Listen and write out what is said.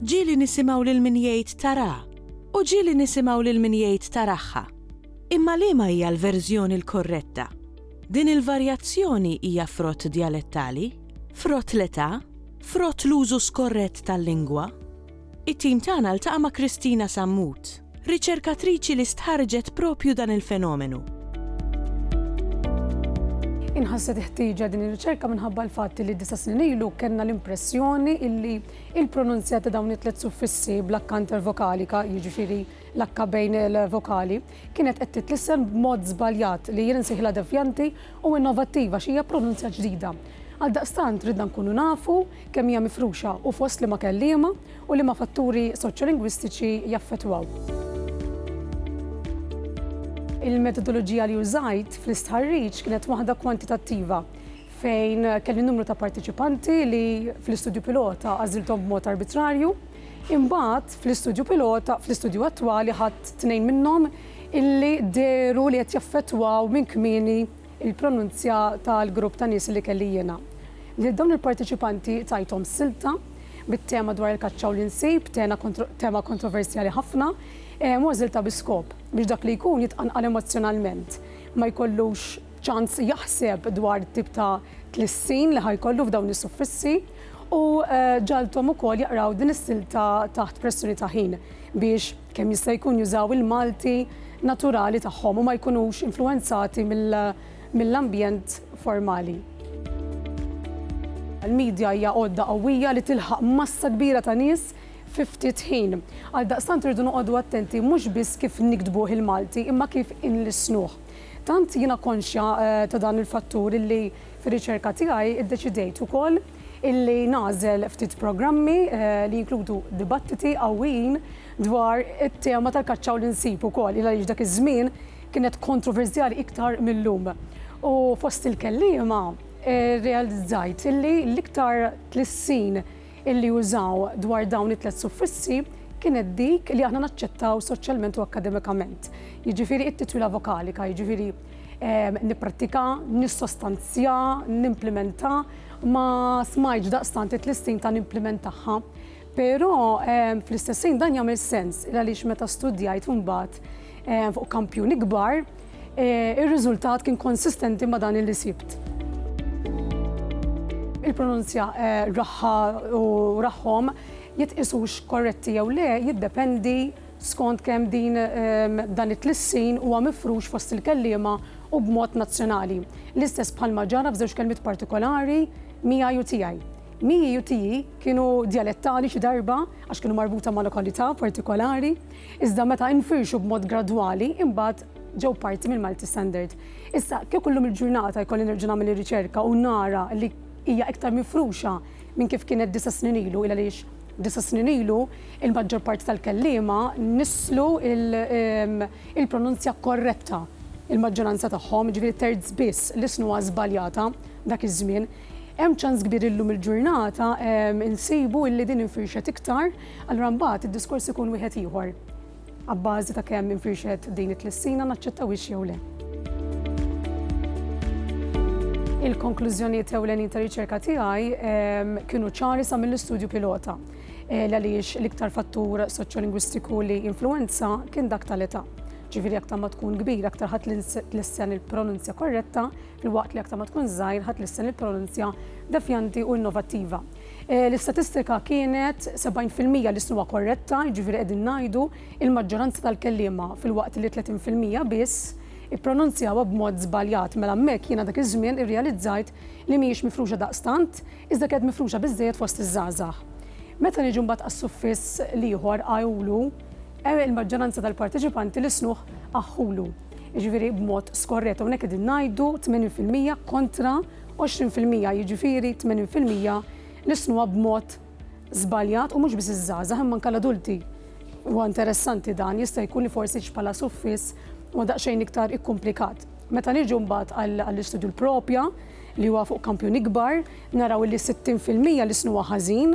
Ġieli nisimgħu lil min jgħid tarà, u ġieli nisimgħu lil min jgħid taragħha. Imma liema hija l-verżjoni l-korretta? Din il-varjazzjoni hija frott djalettali? Frott l-età, frott l-użu skorrett tal-lingwa, it-tim tagħna ltaqa' ma' Kristina Sammut, riċerkatriċi li stħarrġet proprju dan il-fenomenu. Inħasset il-ħtieġa din ir-riċerka minħabba l-fatt li disa' snin ilu kellna l-impressjoni illi il-pronunzja ta' dawn it-tliet suffissi bl-akkanter vokalika, jiġifieri l-akka bejn il-vokali, kienet qed titlissem b'mod żbaljat li jien insejħilha devjanti u innovattiva xi hija pronunzja ġdida. Għaldaqstant ridna nkunu nafu kemm hija mifruxa u fost liema kelliema u liema fatturi soċjolingwistiċi jaffettwaw. Il-metodoloġija li użajt fl-istħarriġ kienet waħda kwantitattiva fejn kelli numru ta' parteċipanti li fl-istudju pilota għażilthom b'mod arbitrarju Imbagħad, fl-istudju pilota, fl-istudju attwali ħadt tnejn minnhom illi dehru li qed jaffettwaw minn kmieni l-pronunzja tal-grupp ta' nies li kelli jiena. Lil dawn il-parteċipanti tajthom silta bit-tema dwar il-kaċċa u l-insib, tema kontroversjali ħafna, u għażiltha bi skop biex dak li jkun jitqanqal emozzjonalment, ma jkollux, ċans jaħseb dwar it-tip ta' tlissin li ħa jkollu f'dawn is-suffissi u ġagħalthom ukoll jaqraw din is-silta taħt pressjoni ta' ħin biex kemm jista' jkun jużaw il-Malti naturali tagħhom u ma jkunux influwenzati mill-ambjent formali. Il-midja hija għodda qawwija li tilħaq massa kbira ta' nies fi ftit ħin. Għaldaqstant irridu noqogħdu attenti mhux biss kif niktbuh il-Malti imma kif inlissnuh. Tant jiena konxja ta' dan il-fattur illi fir-riċerka tiegħi ddeċidejt ukoll illi nagħżel ftit programmi li jinkludu dibattiti qawwijin dwar it-tema tal-kaċċa u l-insib ukoll il għaliex dak iż-żmien kienet kontroversjali iktar mil-lum. U fost il-kelliema rrealizzajt illi l-iktar tlissin illi użaw dwar dawn it-tliet suffissi kienet dik li aħna naċċettaw soċjalment u akkademikament, jiġifieri it-titula vokalika, jiġifieri ehm, nipprattika, nissostanzja, nimplimenta, ma smajtx daqstant it-tlistin ta' nimplimentaħħa. Però ehm, fl-istessin dan jagħmel sens, għaliex meta studjajt imbagħad ehm, fuq kampjun ikbar, Eh, ir-riżultat kien konsistenti ma' dan li sibt. Il-pronunzja eh, raħħa u raħħom jitqisux korretti jew le jiddependi skont kemm din ehm, dan it-tlissin huwa mifrux fost il-kelliema u b'mod nazzjonali. L-istess bħalma ġara f'żewġ kelmiet partikolari miegħi u tiegħi. Miegħi u tiegħi kienu dialettali xi darba għax kienu marbuta ma' lokalità partikolari Iżda meta infirxu b'mod gradwali, imbagħad ġew parti mill-Malti Standard. Issa, kieku llum il-ġurnata jkolli nerġa' nagħmel ir-riċerka u nara li hija iktar mifruxa minn kif kienet disa' snin ilu, il-għaliex disa' snin ilu il-maġġor parti tal-kelliema nisslu il-pronunzja korretta, il-maġġoranza tagħhom, jiġifieri terz biss li snuha żbaljata dak iż-żmien. Hemm ċans kbir li llum il-ġurnata insibu li din infirxet iktar, Allura mbagħad id-diskors ikun wieħed ieħor, abbażi ta' kemm infirxet din it-tlissina naċċettawhiex jew le. Il-konklużjonijiet ewlenin ta' riċerka tiegħi ehm, kienu ċari sa mill-istudju pilota eh, l għaliex l-iktar fattur soċjolingwistiku li influenza kien dak tal-età. Ġifieri aktar ma tkun kbir, aktar ħadd lissen il-pronunzja korretta, fil-waqt li aktar ma tkun żgħir ħadd lissen il-pronunzja defjanti u innovattiva. Eh, l-istatistika kienet 70% li snuha korretta, jiġifieri qegħdin ngħidu il-maġġoranza tal-kelliema fil-waqt li 30% biss ippronunzjawha b'mod żbaljat mela hemmhekk jiena dak iż-żmien irrealizzajt li mhijiex mifruxa daqstant iżda kienet mifruxa biżżejjed fost iż-żgħażagħ. Meta niġu mbagħad għas-suffiss l-ieħor għajulu, eh, il-maġġoranza tal-parteċipanti li snuh aħħulu. Jiġifieri b'mod skorret hawnhekk qegħdin ngħidu 80% kontra 20 fil-mija, jiġifieri 80 fil-mija li jsnuha b'mod żbaljat u mhux biss iż-żgħażagħ imma anke l-adulti. Huwa interessanti dan, jista' jkun li forsi bħala suffiss huwa daqsxejn iktar ikkumplikat. Meta niġu mbagħad għall-istudju l-propja li huwa fuq kampjun ikbar, naraw li 60 fil-mija li jsnuha ħażin,